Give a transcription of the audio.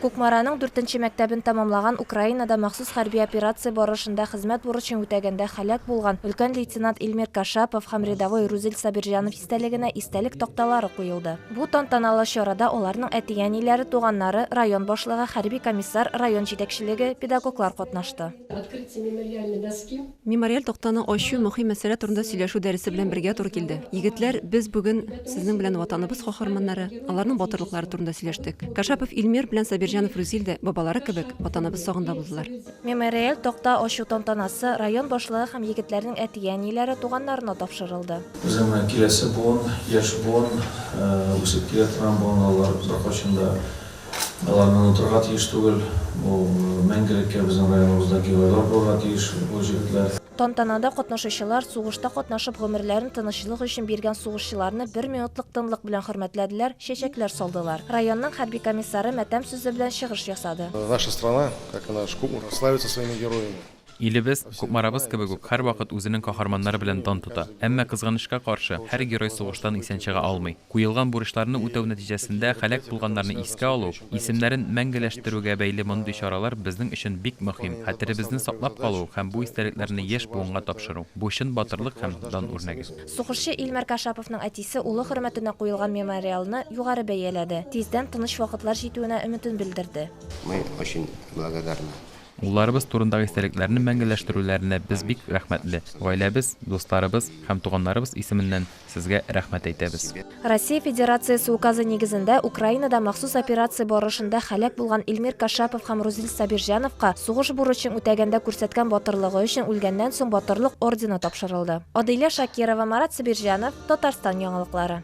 Кукмараның дүртенче мәктәбен тәмамлаган Украинада махсус хәрби операция барышында хезмәт бурычын үтәгәндә һәлак булган өлкән лейтенант Илмир Кашапов һәм рядовой Рузил Сабирҗанов истәлегенә истәлек такталары куелды. Бу тантаналы чарада аларның әти-әниләре, туганнары, район башлыгы, хәрби комиссар, район җитәкчелеге, педагоглар катнашты. Мемориаль тактаны ачу мөһим мәсьәлә турында сөйләшү дәресе белән бергә туры килде. Егетләр, без бүген сезнең белән Ватаныбыз каһарманнары, аларның батырлыклары турында сөйләштек. Кашапов Илмир белән Сабирҗанов Рүзил дә, бабалары кебек, Ватаныбыз сагында булдылар. Мемориаль такта ачу тантанасы район башлыгы һәм егетләрнең әти-әниләре, туганнарына тапшырылды. Безнең менә киләсе буын, яшь буын, үсеп килә торган буын алар, озак кайчан да Аларны онытырга тиеш түгел. Бу мәңгелеккә безнең районыбызда геройлар булырга тиеш бу җегетләр. Тантанада катнашучылар сугышта катнашып гомерләрен тынычлык өчен биргән сугышчыларны бер минутлык тынлык белән хөрмәтләделәр, чәчәкләр салдылар. Районның хәрби комиссары матәм сүзе белән чыгыш ясады. Наша страна, как она ж куму славится своими героями. Илебез, Кукмарабыз кебек үк, һәрвакыт үзенең каһарманнары белән дан тота. Әмма, кызганычка каршы, һәр герой сугыштан исән чыга алмый. Куелган бурычларны үтәү нәтиҗәсендә һәлак булганнарны искә алу, исемнәрен мәңгеләштерүгә бәйле мондый чаралар безнең өчен бик мөһим. Хәтеребезне саклап калу һәм бу истәлекләрне яшь буынга тапшыру, бу чын батырлык һәм дан үрнәге. Сугышчы Илмар Кашаповның әтисе улы хөрмәтенә куелган мемориалны югары бәяләде, тиздән тыныч вакытлар җитүенә өметен белдерде. Мы очень благодарны Улларыбыз турындагы истәлекләрне мәңгеләштерүләренә без бик рәхмәтле. Гаиләбез, дусларыбыз һәм туганнарыбыз исеменнән сезгә рәхмәт әйтәбез. Россия Федерациясе Указы нигезендә Украинада махсус операция барышында һәлак булган Илмир Кашапов һәм Рузил Сабирҗановка сугыш бурычың үтәгәндә күрсәткән батырлыгы өчен Үлгәннән соң батырлык ордены тапшырылды. Адыйлә Шакирова, Марат Сабирҗанов, Татарстан яңалыклары.